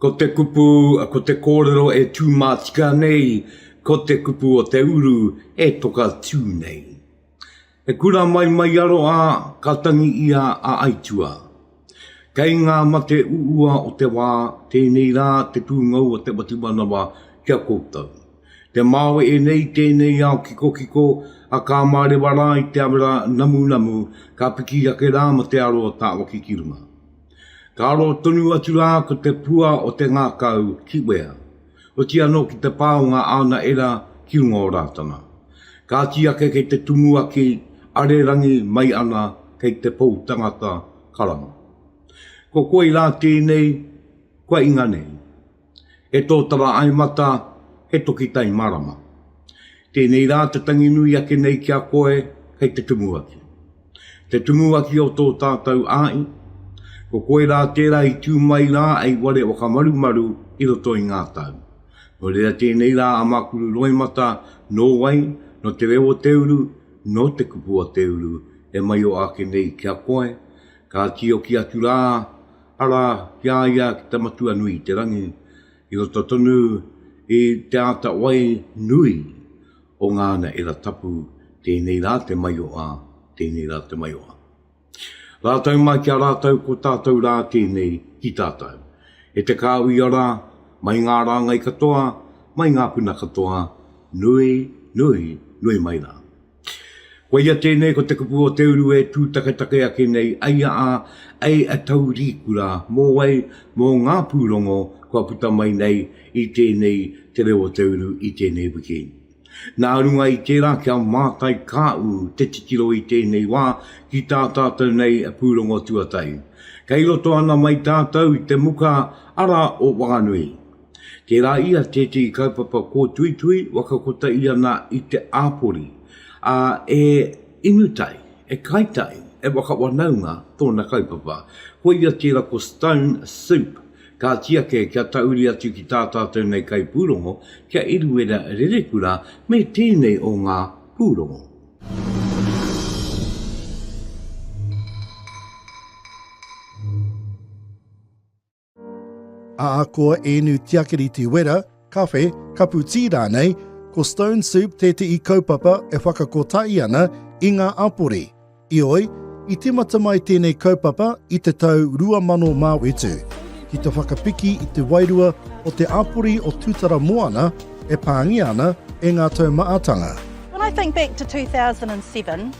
Ko te kupu, ko te kōrero e tūmātika nei, ko te kupu o te uru e toka tū nei. He kura mai mai aro a, ka tangi ia a Aitua. Kei ngā mate uua o te wā, tēnei rā te pūngau o te whatumanawa ki a koutou. Te māwe ēnei i tēnei ao kikokiko, a ka mārewa rā i te awera namunamu, ka piki ake rā ma te aro o tāwaki ki runga. Ka aro tonu atu rā ko te pua o te ngakau ki wea. Oti anō ki te pā o ngā ana era ki runga o Rātana. Kāti ake kei te tumuaki a Rerangi mai ana kei te pou tangata karanga. Ko koi rā tēnei kua inga nei. He tōtara aimata, he toki tai marama. Tēnei rā te tangi nui ake nei ki a koe kei te Tumuaki. Te Tumuaki o tō tātou āi, ko koe rā tērā i tū mai rā ai ware whakamarumaru i roto i ngā tau. Nō reira tēnei rā a Makuru Roimata nō wai, nō te reo o te uru, nō te kupu o te uru e maio ake nei ki a koe, ka tīoki atu rā, arā, ki a ia ki te Matua nui i te rangi, I roto tonu i te āta wai nui o ngā naera tapu, tēnei rā te maioa, tēnei rā te maioa. Rātou mai ki a rātou ko tātou rā tēnei ki tātou. E te kāuia rā, mai ngā rāngai katoa, mai ngā puna katoa, nui, nui, nui mai rā. Koia tēnei ko te kupu o te uru e tūtaketake ake nei ai a a ai a Taurīkura mō wai, mō ngā pūrongo kua puta mai nei i tēnei Te Reo o te Uru i tēnei wikēni. Nā runga i tērā kia mātai kā ū te titiro i tēnei wā ki tā tātou nei pūrongo tuatahi. Kei roto ana mai tātou i te muka ara o Whanganui. Tērā ia tētehi kaupapa kōtuitui waka kota ia nā i te āpori, ā, e inu tai, e kai tai, e waka wanaunga tōna kaupapa. Ko ia tērā ko Stone Soup, ka tiake kia tauri atu ki tā tātou nei kaipūrongo, ki a Eruera Rerekura me tēnei o ngā pūrongo. Ahakoa ēnu tiakiriti wera, kawhe, kapu tī rānei, ko Stone Soup tētehi kaupapa e whakakotahi ana i ngā apore. Ioi, i tīmata mai tēnei kaupapa i te tau 2007, ki te whakapiki i te wairua o te apore o Tūtara Moana e pāngia ana e ngā taumaatanga. When I think back to 2007,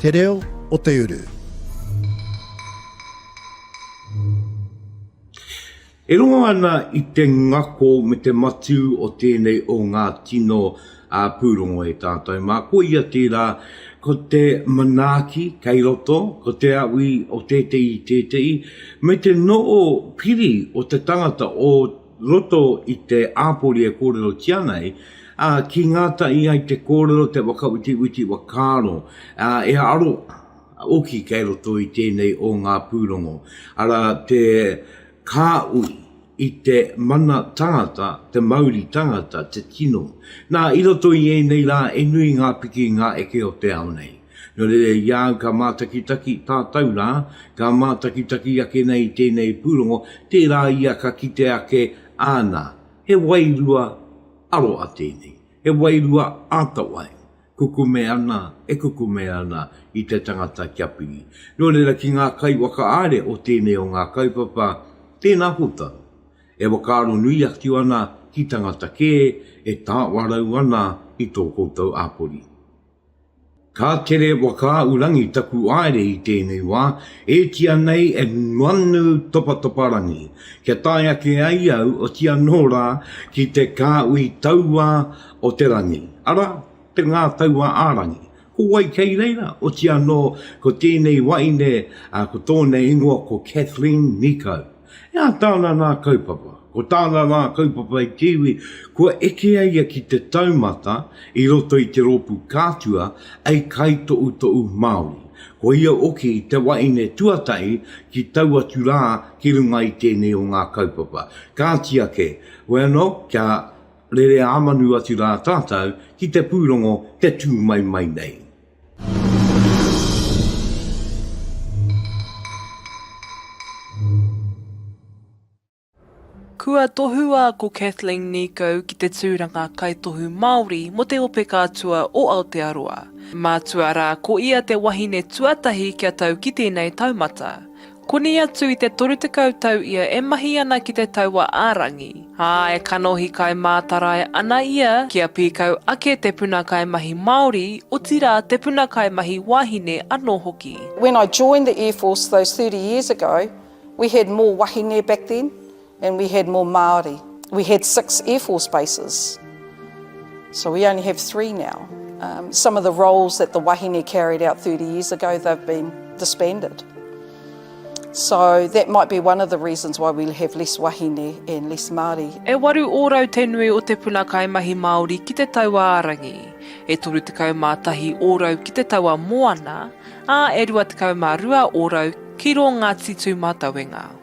Te Reo o te Uru. E rongo ana i te ngako me te matū o tēnei o ngā tino pūrongo e tātou mā, ko ia tērā, ko te manaaki kei roto, ko te awi o tētehi, tētehi, me te noo piri o te tangata, o. roto i te āpori e kōrerotia ana ai, ā, ki ngātahi ai te kōrero, te whakawetiweti whakaaro, ā, e aro hoki kei roto i tēnei o ngā pūrongo, arā, te kāhui i te mana tangata, te mauri tangata, te tino. Nā, i roto i ēnei rā, he nui ngā piki, ngā eke o te ao nei. Nō reira i a au ka mātakitaki tātou rā, ka mātakitaki ake nei i tēnei pūrongo, tērā ia ka kite ake, āna, he wairua aroa tēnei, he wairua āta wai, kukume ana, e kukume ana i te tangata kia piri. Nō reira ki ngā kaiwakaāre o tēnei o ngā kaupapa, tēnā koutou, e whakaaro nui atu ana ki tangata kē, e tāwarau ana i tō koutou āpori. Ka tere Whakaahurangi taku aere i tēnei wā, ētia nei e Manu Topatoparangi, kia tae ake ai au oti anō rā ki te kāhui taua o te rangi, arā, te ngā taua ā-rangi. Ko wai kei reira? Oti anō ko tēnei waeine ko tōna ingoa ko Kathleen Nikau. E ata ana nā kaupapa. Ko tāna rā kaupapa i te iwi, kua eke a ia ki te taumata i roto i te rōpū kātua ei kaitoʻutoʻu Māori. Ko ia hoki te wahine tuatahi ki tau atu rā ki runga i tēnei o ngā kaupapa. Kāti ake, wēnō kia rere ā manu atu rā tātou ki te pūrongo te tū mai mai nei. Kua tohua ko Kathleen Nico ki te tūranga kaitohu Māori mō te Ope Kātua o Aotearoa. Mātua rā ko ia te wahine tuatahi kia tau ki tēnei taumata. Koni atu i te 30 tau ia e mahi ana ki te taua ā-rangi, ā, e kanohi kai mātarae ana ia kia pīkau ake te puna kaimahi Māori, otirā te puna kaimahi wāhine anō hoki. When I joined the Air Force those thirty years ago, we had more wahine back then, and we had more Māori. We had six Air Force bases, so we only have three now. Um, some of the roles that the wahine carried out 30 years ago, they've been disbanded. So that might be one of the reasons why we have less wahine and less Māori. E waru ōrau te nui o te puna kaimahi Māori ki te taua ārangi, e 31 ōrau ki te taua moana, ā, e 22 ōrau ki rō Ngāti Tūmatauenga.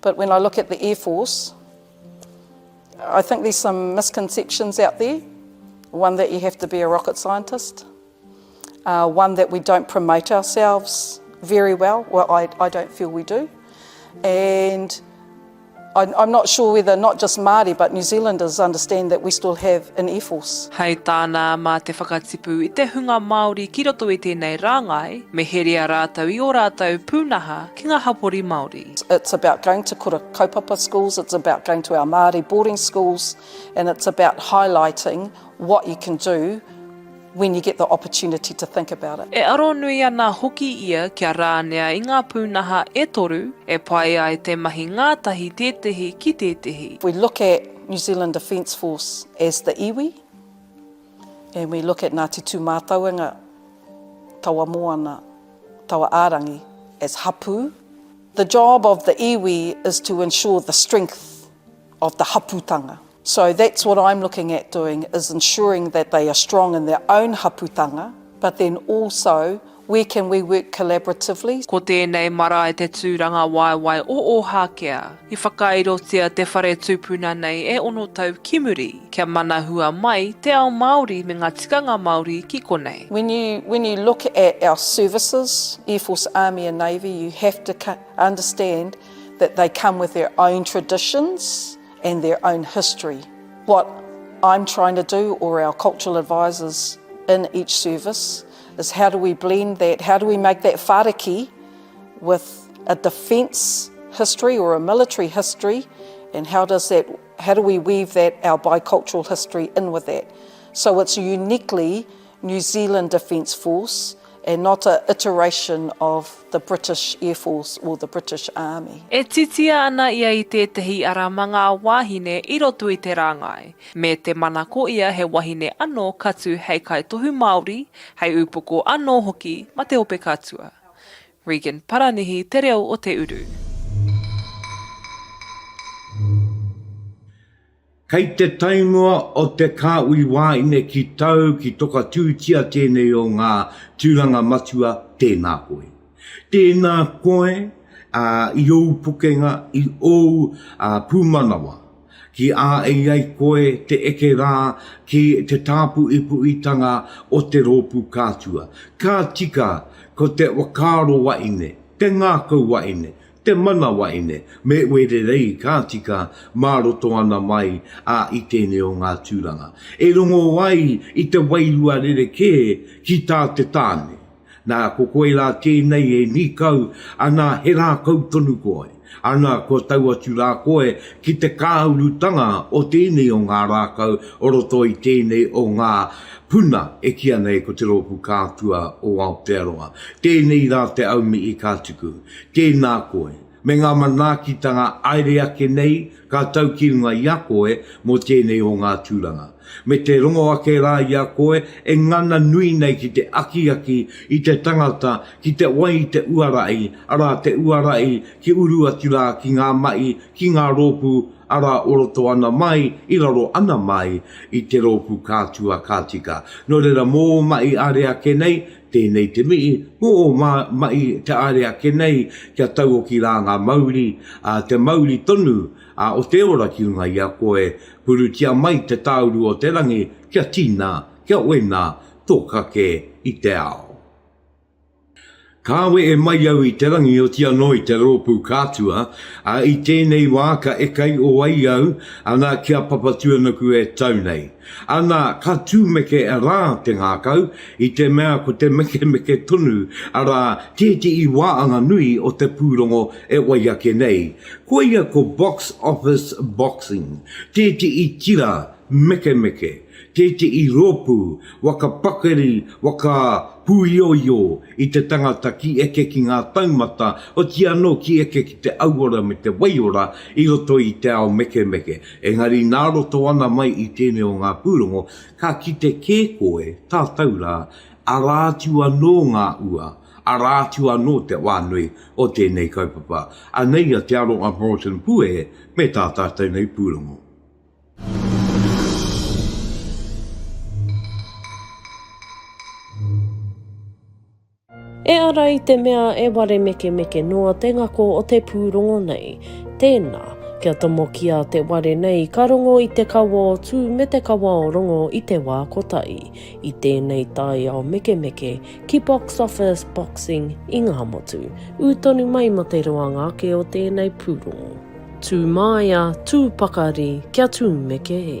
But when I look at the Air Force, I think there's some misconceptions out there. One that you have to be a rocket scientist. Uh, one that we don't promote ourselves very well. Well, I, I don't feel we do. And I'm, I'm not sure whether not just Māori but New Zealanders understand that we still have an air force. Hei tāna, mā te whakatipu i te hunga Māori ki roto i tēnei rāngai, me heria rātou i ō rātou pūnaha ki nga hapori Maori. It's about going to kura kaupapa schools, it's about going to our Māori boarding schools and it's about highlighting what you can do when you get the opportunity to think about it. E aro nui ana hoki ia kia rānea i ngā pūnaha e toru e pai ai te mahi ngātahi tētehi ki tētehi. If we look at New Zealand Defence Force as the iwi and we look at Ngāti Tūmātauenga, taua moana, taua ārangi as hapū, the job of the iwi is to ensure the strength of the hapūtanga. So that's what I'm looking at doing is ensuring that they are strong in their own hapūtanga but then also where can we work collaboratively. Ko tēnei marae te tūrangawaewae o Ōhākea. I whakairotia te whare tūpuna nei e ono tau ki muri, kia manahua mai te ao Māori me ngā tikanga Māori ki konei. When you when you look at our services, Air Force, Army and Navy, you have to understand that they come with their own traditions and their own history. What I'm trying to do or our cultural advisors in each service is how do we blend that, how do we make that whāriki, with a defence history or a military history and how does that, how do we weave that, our bicultural history in with that. So it's a uniquely New Zealand Defence Force and not a iteration of the British Air Force or the British Army. E titia ana ia i tētehi ara ma ngā wāhine i roto i te rāngai, me te mana ko ia he wahine ano ka tu hei kaitohu Māori, hei upoko ano hoki ma te ope katua. Regan Paranihi te reo o te uru. Kei te taimua o te kāhui wāine ki tau ki tokatūtia tēnei o ngā tūranga matua tēnā koe. Tēnā koe i ōu pukenga, i ōu pūmanawa. Ki a i ai koe te eke rā ki te tāpuipuitanga o te rōpū kātua, ka tika ko te whakaaro waine, te ngākau waine, te mana waine me Wererei ka tika mā roto ana mai a i tēnei o ngā tūranga e rongo ai i te wairua rerekē ki tā te tāne. Nā, ko koe rā tēnei e nīkau ana he rākau tonu koe, ana, kua tau atu rā koe ki te kāurutanga o tēnei o ngā rākau o roto i tēnei o ngā puna e kīa nei ko te Rōpū Kātua o Aotearoa. Tēnei rā te aumihi ka tuku. Tēnā koe. me ngā manaakitanga aere ake nei ka tau ki runga i a koe mō tēnei o ngā tūranga, me te rongo ake rā i a koe e ngana nui nei ki te akiaki i te tangata ki te wai i te uara i, arā, te uara i ki uru atu rā ki ngā mahi, ki ngā rōpū, arā, o roto ana mai, i raro ana mai i te rōpū kātua ka tika. Nō reira, mō ō mahi aare ake nei, Tēnei te mihi, ko ō mahi te aare ake nei kia tauoki rā ngā mauri, ā, te mauri tonu o te ora ki runga i a koe, purutia mai te tāuru o te rangi kia tina, kia wena tō kake i te ao. Kāwe e mai au i te rangi oti anō i te rōpū kātua, ā, i tēnei wā ka ekaio ai au, ana, ki a Papatūānuku e tau nei. Ana, ka tumeke rā te ngākau, i te mea ko te mekemeke tonu, arā, tētehi wā anga nui o te pūrongo e wai ake nei. Koia ko Box Office Boxing, tētehi tira mekemeke, tētehi rōpū waka pakari, waka pūioio i te tangata ki eke ki ngā taumata, oti anō ki eke ki te auora me te waiora i roto i te ao mekemeke. Engari nā roto ana mai i tēnei o ngā pūrongo, ka kite kē koe, tātou rā, arā atu anō ngā ua, arā atu anō te wā nui o tēnei kaupapa. Anei a Te Aroha Morton Puehe me tā tātou nei pūrongo. E ara i te mea e ware mekemeke noa te ngako o te pūrongo nei. Tēnā, kia tomokia te ware nei ka rongo i te kawa o Tū me te kawa o Rongo i te wā kotahi, i tēnei taiao mekemeke, ki Box Office Boxing i Ngāmotu. Ū tonu mai mō te roanga ake o tēnei pūrongo. Tū māia, tū pakari, kia tūmeke e.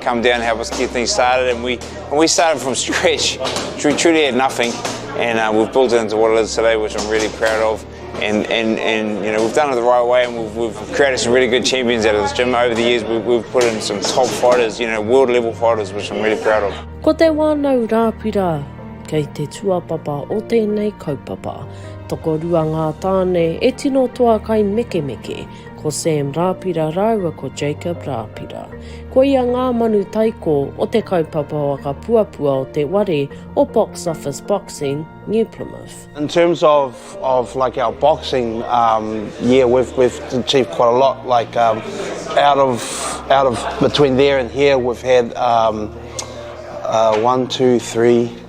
come down help us get things started and we and we started from scratch we truly had nothing and uh, we've built it into what it is today which I'm really proud of and and and you know we've done it the right way and we've, we've created some really good champions out of this gym over the years we've, we've put in some top fighters you know world level fighters which I'm really proud of Ko te wānau rāpira kei te tuapapa o tēnei kaupapa. Tokorua ngā tāne e tino toa kai mekemeke Ko Sam Rāpira rāua ko Jacob Rāpira. Koia ngā manu taiko o te kaupapa whakapuapua o te ware o Box Office Boxing, New Plymouth. In terms of of like our boxing, um, yeah, we've we've achieved quite a lot. Like um, out of out of between there and here, we've had um, uh, one, two, three,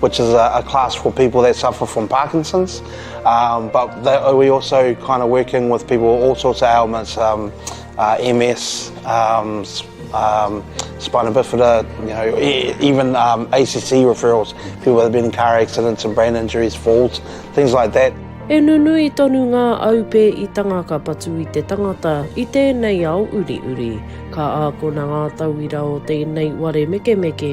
which is a class for people that suffer from Parkinson's, um, but that, we also kind of working with people with all sorts of ailments, um, uh, MS, um, um, spina bifida, you know, e, even um, ACC referrals, people that have been in car accidents and brain injuries, falls, things like that. E nunui tonu ngā aupe i tanga ka patu i te tangata i tēnei ao uri uri. Ka ākona ngā tauira o tēnei ware mekemeke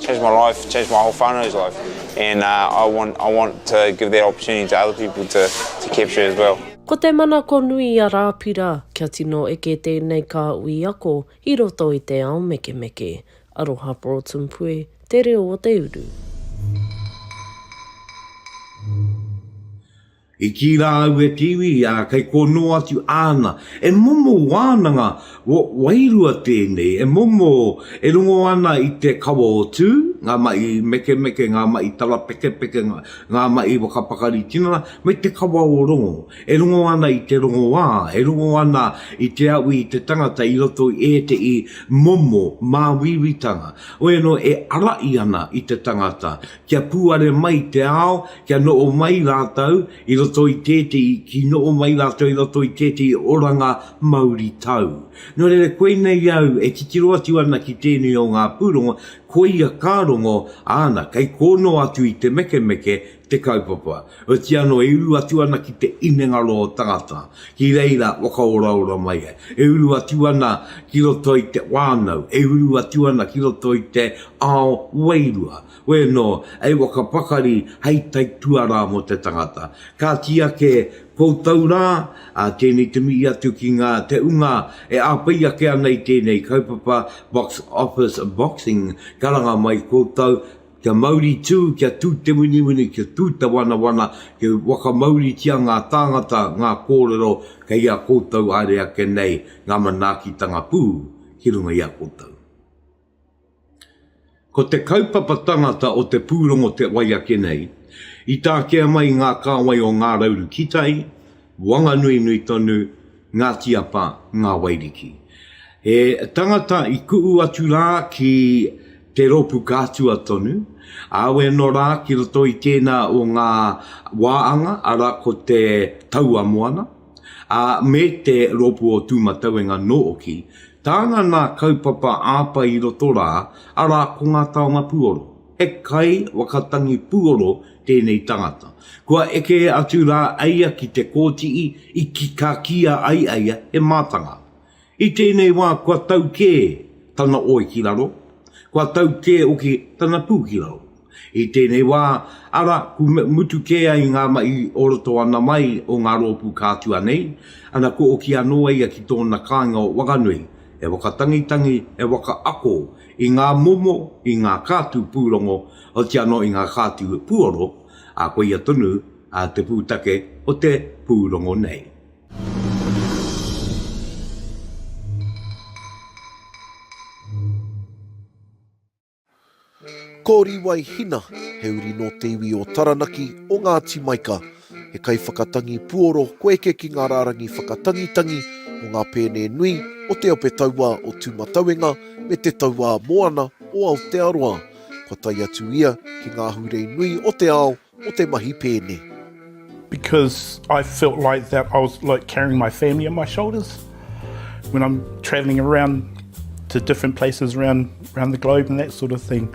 Changed my life, changed my whole whānau's life and uh I want I want to give that opportunity to other people to to capture as well. Ko te manako nui a Rāpira kia tino eke tēnei kāhui ako i roto i te ao mekemeke. Aroha Broadsompue, Te Reo o te Uru. I kī rā aua Kiwi, ā, kei kō nō atu āna. He momo wānanga wairua tēnei, he momo e rongo ana i te kawa o Tū, ngā mahi mekemeke, ngā mahi tarapekepeke, ngā mahi whakapakari tinana, me te kawa o Rongo. E rongo ana i te rongoā, e rongo ana i te awi i te tangata i roto i ētehi momo māuiuitanga. Hoi anō, e arahi ana i te tangata, kia pūare mai te ao, kia noho mai rātou i roto i tētehi, ki noho mai rātou i roto i tētehi oranga mauri tau. Nō reira, koinei au e titiro atu ana ki tēnei o ngā pūrongo, koia ka rongo, āna, kei kō noa atu i te mekemeke te kaupapa. Oti anō, e uru atu ana ki te inengaro o tangata, ki reira whakaoraora mai ai. E uru atu ana ki roto i te whānau, e uru atu ana ki roto i te ao wairua. Wēnō, hei waka pakari, hei tai tuarā mō te tangata. Kāti ake koutou rā, ā, tēnei te mihi atu ki ngā te unga e āwhai ake ana i tēnei kaupapa Box Office Boxing, karanga mai koutou, Kia mauri tū, kia tū te winiwini, kia tū te wanawana, kia whakamauritia ngā tāngata, ngā kōrero kei a koutou haere ake nei ngā manaakitanga pū ki runga i a koutou. Ko te kaupapa tangata o te pūrongo te wai ake nei, i takea mai ngā kāwai o Ngā Rauru Kitai, Wanganui-nui tonu, Ngati Apa, Nga Wairiki. He tangata i ku'u atu ra ki te ropu kātua tonu, awe ano ra ki roto i tena o nga waanga, ara ko te Taua Moana, a me te ropu o Tumatauenga nooki. Tāna nā kaupapa āpa i roto rā, ara ko nga taonga puoro. He kai wakatangi puoro tēnei tangata. Kua eke atu rā eia ki te kōtii i ka kīa ai eia he mātanga. I tēnei wā kua tau kē tana oe ki raro, kua tau kē hoki tana pū ki raro. I tēnei wā, ara, ku mutu kē ai ngā mahi o roto ana mai o ngā rōpū kātua nei, ana ku oki anō eia ki tōna kāinga o Wakanui, he wakatangitangi, he wakaako, i ngā momo, i ngā kātū pūrongo, otirā anō i ngā kātū puoro, ā, koia tonu te pūtake o te pūrongo nei. Ko Riwai Hina, he uri nō te iwi o Taranaki, o Ngāti Maika. He kaiwhakatangi puoro ko eke ki ngā rārangi whakatangitangi o ngā pēne nui o te Ope Tauā o Tūmatauenga me te Tauā Moana o Aotearoa. Kua tae atu ia ki ngā ahurei nui o te ao mō te mahi pēne. because I felt like that I was like carrying my family on my shoulders when I'm travelling around to different places around around the globe and that sort of thing.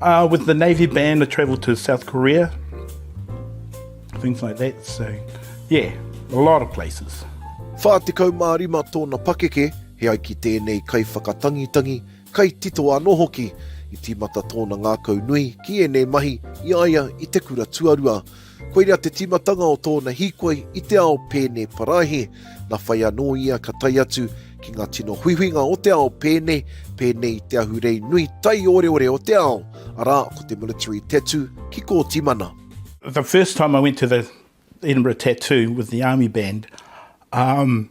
Uh, with the Navy band, I travelled to South Korea, things like that. So, yeah, a lot of places. 45 tōna pakeke, he ai ki tēnei kai whakatangitangi, kai tito anō hoki. I tīmata tōna ngākau nui ki ēnei mahi i aia i te kura tuarua. Koirā te tīmatanga o tōna hīkoi i te ao pēne paraihe, nā whai anō ia ka tae atu ki ngā tino huihuinga o te ao pēne, pēnei i te ahurei nui taioreore o te ao, arā, ko te military tattoo ki Kōtimana. The first time I went to the Edinburgh Tattoo with the army band, umm,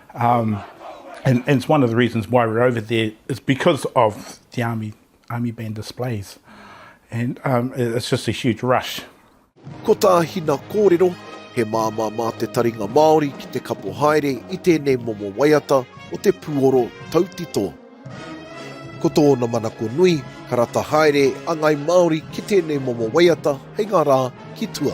Um, and, and it's one of the reasons why we're over there is because of the army army band displays, and um, it's just a huge rush. Ko tā Hina kōrero, he māmā mā te taringa Māori ki te kapo haere i tēnei momo waiata o te pūoro tautito. Ko tōna manako nui, ka rata haere a Ngai Māori ki tēnei momo waiata hei ngā rā ki tua.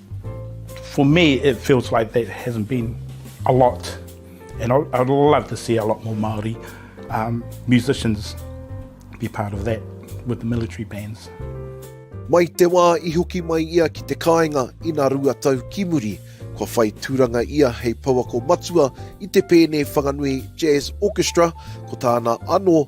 For me it feels like there hasn't been a lot and I'd love to see a lot more Māori um, musicians be part of that with the military bands. Mai te wā i hoki mai ia ki te kāinga ina rua tau ki muri, kua whai tūranga ia hei pouako matua i te Pēne Whanganui Jazz Orchestra, ko tāna anō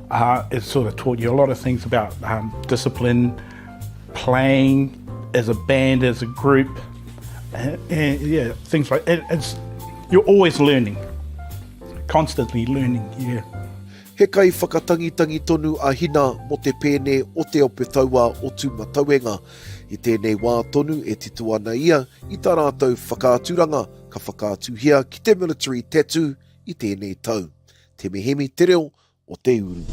Uh, it sort of taught you a lot of things about um, discipline, playing as a band, as a group, and, and yeah, things like it, it's you're always learning, constantly learning. Yeah. He kai whakatangitangi tonu a Hina mo te pēne o te ope taua o Tūmatauenga. I tēnei wā tonu e tito ana ia i tā rātou whakaaturanga ka whakaatuhia ki te military tattoo i tēnei tau. Te mihemi te reo o te uru.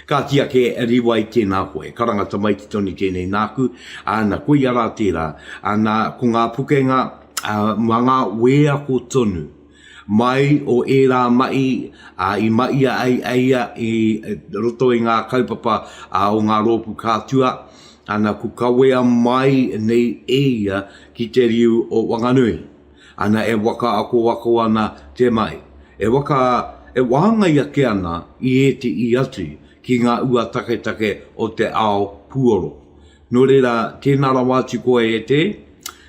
Kāti ake, Riwai, tēnā koe. Karanga tamaiti tonu tēnei nāku, ā, na koia rā tērā. Ā, nā, ko ngā pukenga, ā, mā ngā wēako tonu. Mai o ērā mahi, ā, i mahia ai e ia i roto i ngā kaupapa, ā, o ngā rōpū kātua, ā, na ku kawea mai nei e ia ki te riu o Wanganui. Ana e waka ako ako ana te mai, e waka, e wāngai ake ana i ētehi atu ki ngā ua taketake o te ao puoro. Nō reira, tēnā rawa atu koe e te,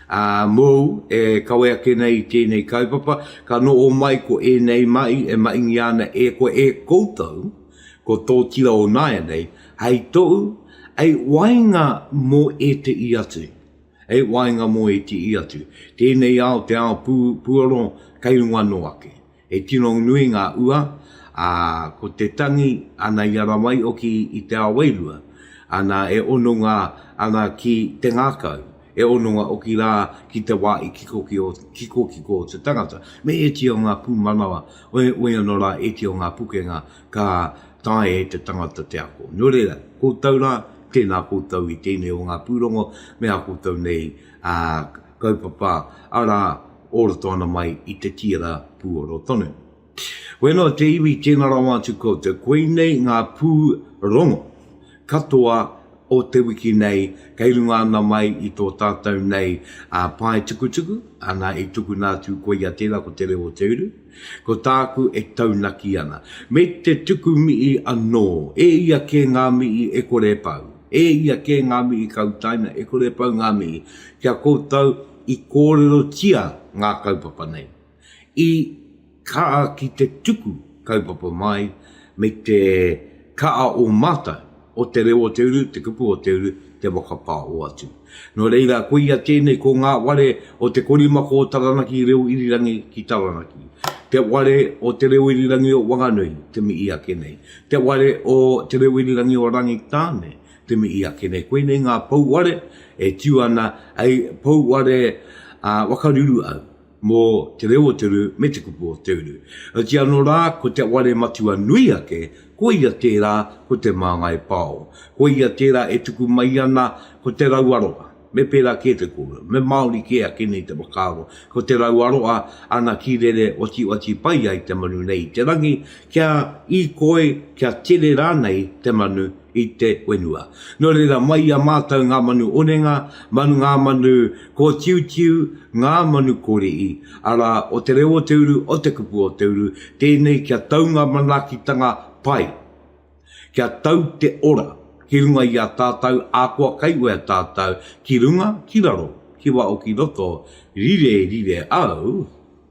ā, mōu e kawe ake nei i tēnei kaupapa, ka noho mai ko ēnei mahi e mahingia ana e koe, e koutou, ko tō tira o nāianei, hei tohu, hei wainga mō ētehi atu. He waenga mō ētihi atu, tēnei ao te ao puoro kei runga anō ake. He tino nui ngā ua, ā, ko te tangi ana i ara mai hoki i te ao wairua, ana e hononga ana ki te ngākau, he hononga hoki rā ki te wā i kikokiko te tangata, me ētihi o ngā pūmanawa, waihoki anō rā ētihi o ngā pukenga Ka taea e te tangata te ako. Nō reira, koutou rā, tēnā koutou i tēnei o ngā pūrongo me ā koutou nei kaupapa, arā, o roto ana mai i te tīra pūoro tonu. Wēnā te iwi, tēnā rawa atu koutou. Koinei ngā pūrongo katoa o te wiki nei kei runga ana mai i tō tātou nei pae tukutuku, ana i tukuna atu, koia tērā ko Te Reo o Te Uru. Ko tāku e taunaki ana. Me te tuku mihi anō, e ia kē ngā mihi e kore e pau, e ia kē ngā mihi ka utaina e kore e pau ngā mihi ki a koutou i kōrerotia ngā kaupapa nei, i kaha ki te tuku kaupapa mai me te kaha o mātou. o te reo o te uru, te kupu o te uru, te waka pā o atu. Nō reira, koia tēnei ko ngā ware o te korimako o Taranaki Reo Irirangi ki Taranaki, te ware o Te Reo Irirangi o Wanganui, te mihi ake nei, te ware o Te Reo Irirangi o Rangitāne, te mihi ake nei. Koinei ngā pouware e tiu ana hei pouware whakaruru au. mō te reo o te uru me te kupu o te uru. Heoti anō rā, ko te ware matua nui ake, ko ia tērā ko Te Māngai Pāo. Ko ia tērā e tuku mai ana ko Te Rauaroa. Me pērā kē te kōrero, me Māori kē ake nei te whakaaro, ko Te Rauaroa ana kīrere otioti pai ai te manu nei i te rangi, kia īkoi, kia tere rānei te manu i te whenua. Nō reira, mai i a mātou ngā manu onenga, manu ngā manu kōtiutiu, ngā manu kōrihi, arā, o te reo o te uru, o te kupu o te uru, tēnei kia tau ngā manaakitanga pai, kia tau te ora ki runga i a tātou, ahakoa kei wea tātou, ki runga, ki raro, ki waho, ki roto, rire, rire au.